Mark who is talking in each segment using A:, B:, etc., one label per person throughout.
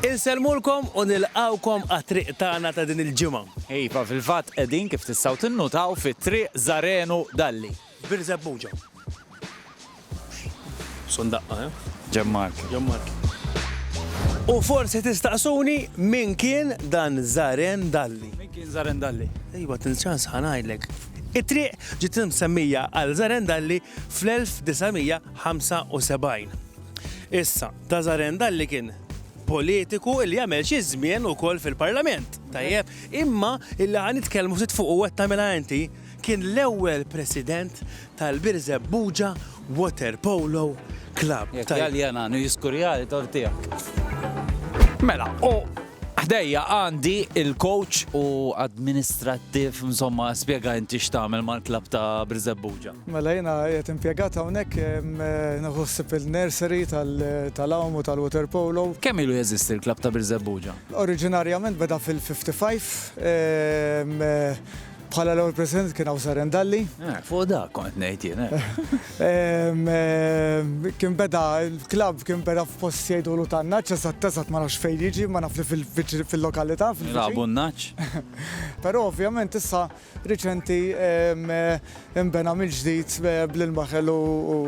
A: Insellmulkom u nilqgħukom għat-triq tagħna ta' din il-ġimgħa. Iva, fil-fatt
B: qegħdin, kif tistgħu tinnutaw, fi Triq Żarenu Dalli. Birżebbuġa.
A: Son daqqa, eh? Ġenb Marki. Ġenb
B: Marki.
A: U forsi tistaqsuni min kien dan Żaren Dalli? Min kien Żaren Dalli?
B: Iva, till ċans ħa
A: ngħidlek. It-triq ġiet imsemmija għal Żaren Dalli fl-1975. Issa, Tazaren dalli kien politiku li jagħmel xi żmien ukoll fil-Parlament. Tajjeb, imma illi ħan nitkellmu ftit fuq u qed tagħmilha inti kien l-ewwel president tal-Birzeb Buġa Water Polo Club. Jekk jgħalli għana, nu
B: jiskurjali tortijak. Mela, u Ħdejja għandi il-coach u administrattiv, insomma, spjega inti x'tagħmel mal-klabb ta' Birżebbuġa. Mela jiena qed
C: impjegat hawnhekk nieħu ħsieb il-nursery tal-għawm u tal-water polo. Kemm ilu jeżisti l-klabb
B: ta' Birżebbuġa? Oriġinarjament beda
C: fil-55. Bħala l-ewwel President kien hawn Saren Dalli. Eh, fuq da kont
B: ngħid jien. Eh.
C: Kien beda l-klabb kien beda f'post jgħidulu ta' naċċ sa tesat ma nafx fejn jiġi, ma naf li fil-lokalità. Labu naċċ.
B: Però
C: ovvjament issa riċenti imbena mill-ġdid bl-ilma ħelu u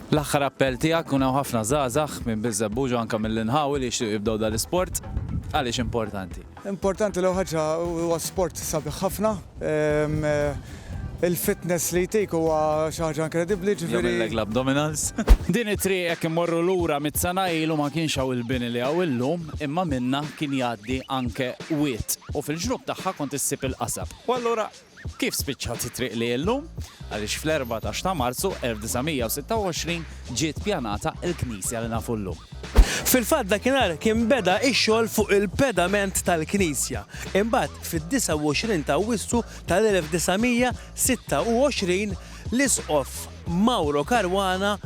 B: L-aħħar appell tiegħek kun hawn ħafna żgħażagħ minn Biżebbuġa anke mill-inħawi li jixtiequ jibdew dal-isport għaliex importanti. Importanti l-ewwel ħaġa
C: huwa sport sabiħ ħafna. Il-fitness li jtik huwa xi ħaġa inkredibbli, jiġifieri. Jagħmillek l-abdominals.
B: Din it-triq hekk immorru lura mitt sena ilu ma kienx hawn il-bini li hawn illum, imma minnha kien jgħaddi anke wied u fil-ġnub tagħha kont issib il-qasab. U allura Kif spiċċat it-triq li llum? Għaliex fl-erbatax ta' Marzu 1926 ġiet pjanata l-knisja li nafu llum. Fil-fatt
A: dakinhar kien beda x-xogħol fuq il-pedament tal-knisja. Imbagħad fid-29 ta' Awwissu tal-1926, L-Isqof Mauro Caruana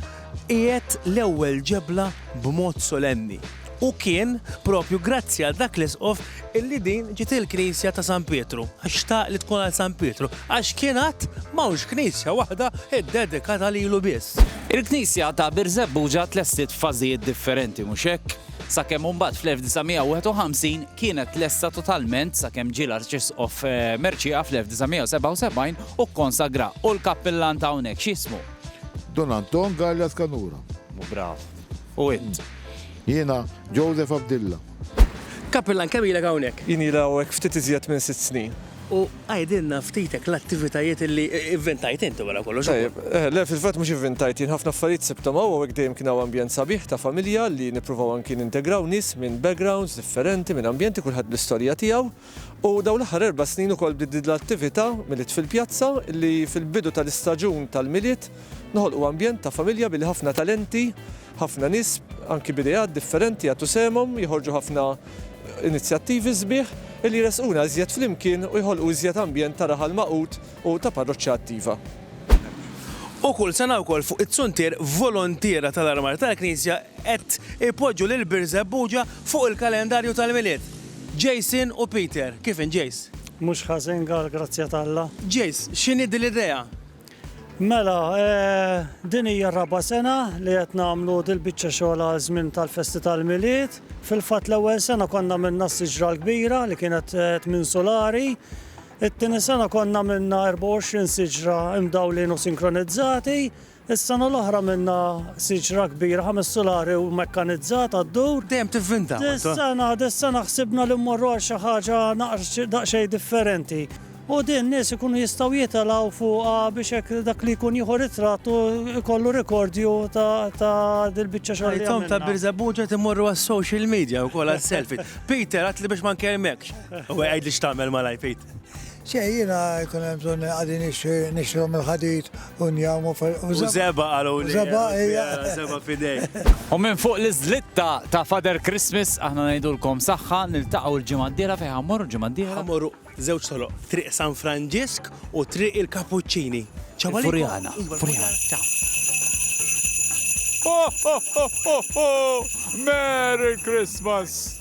A: qiegħed l-ewwel ġebla b'mod solenni. U kien propju grazzi għal dak l-Isqof illi din ġiet il-Knisja ta' San Pietru, għax xtaq li tkun għal San Pietru, għax kien għad m'hawnx Knisja waħda ddedikata lilu biss. Il-Knisja ta'
B: Birżebbuġa tlestit f'fażijiet differenti, mhux hekk? Sakemm imbagħad fl-1951 kienet lesta totalment sakemm ġie l-Arċisqof Mercieca fl-1977 u kkonsagra, u l-kappillan ta' hawnhekk x'jismu? Don Anton
D: Galea Scanura. Brav.
B: U int? Jiena
D: Joseph Abdilla. Kappillan
A: kemm ilek hawnhekk? Jien ili hawnhekk ftit
E: iżjed minn sitt snin. U għidilna
A: ftit hekk l-attivitajiet li ivvintajt int wara kollox. Tajjeb. Le, fil-fatt mhux
E: ivvintajt jien, ħafna affarijiet sibthom hawn, hawnhekk dejjem kien hawn ambjent sabiħ ta' familja li nippruvaw anki nintegraw nies minn backgrounds differenti, minn ambjenti, kulħadd bl-istorja tiegħu. U dawn l-aħħar erba' snin ukoll bdiet tdid l-attività Milied fil-Pjazza li fil-bidu tal-istaġun tal-Milied noħolqu ambjent ta' familja billi ħafna talenti, ħafna nies anki b'ideat differenti jagħtu sehemhom, joħorġu ħafna inizjattivi sbieħ illi jressquna iżjed flimkien u jħolqu iżjed ambjent ta' raħal magħqud u ta' parroċċa attiva.
A: U kull sena wkoll fuq it-Suntier voluntiera tal-Armar tal-Knisja qed ipoġġu lil Birżebbuġa fuq il-kalendarju tal-Milied. Jason u Peter, kif int Jace? Mhux ħażin
F: għall-grazzja t'Alla. Jace, x'inhi
A: din l-idea? Mela,
F: din hija r-raba' sena li qed nagħmlu dil-biċċa xogħol għal żmien tal-festi tal-Milied. Fil-fatt l-ewwel sena konna għamilna s-siġra l-kbira li kienet tmien sulari. It-tieni sena konna għamilna 24 siġra imdawlin u sinkronizzati. Is-sena l-oħra minna siġra kbira, ħames sulari u mekkanizzata ddur. Dejjem tivvinta, Walter.
A: Dis-sena, dis-sena
F: ħsibna li mmorru għal xi ħaġa naqs, daqsxejn differenti. U din nies ikunu jistgħu jitelgħu fuqha biex hekk dak li jkun jieħu ritratt u jkollu rikordju ta' ta' dil-biċċa xogħol li għamilna. Tom ta' Birżebbuġa
A: qed imorru għas-social media wkoll għas-selfie. Peter, għidtli biex ma nkellmekx. Għidli x'tagħmel malajr, Pete. Xejn, jiena
G: jkun hemm bżonn għadi nixtrom il-ħadid u njawmu U żeba
A: qalu li. Żeba hija. Żeba fidej. U minn fuq
B: l-iżlitta ta' Father Christmas aħna ngħidulkom saħħa niltaqgħu l-ġimgħa d-dieħla fejn ħammorru l-ġimgħa d-dieħla? Ħammorru żewġ toroq,
A: Triq San Franġisk u Triq il-Kapuċċini. Ċaw għalikom. Furjana.
B: Furjana. Ċaw. Merry Christmas!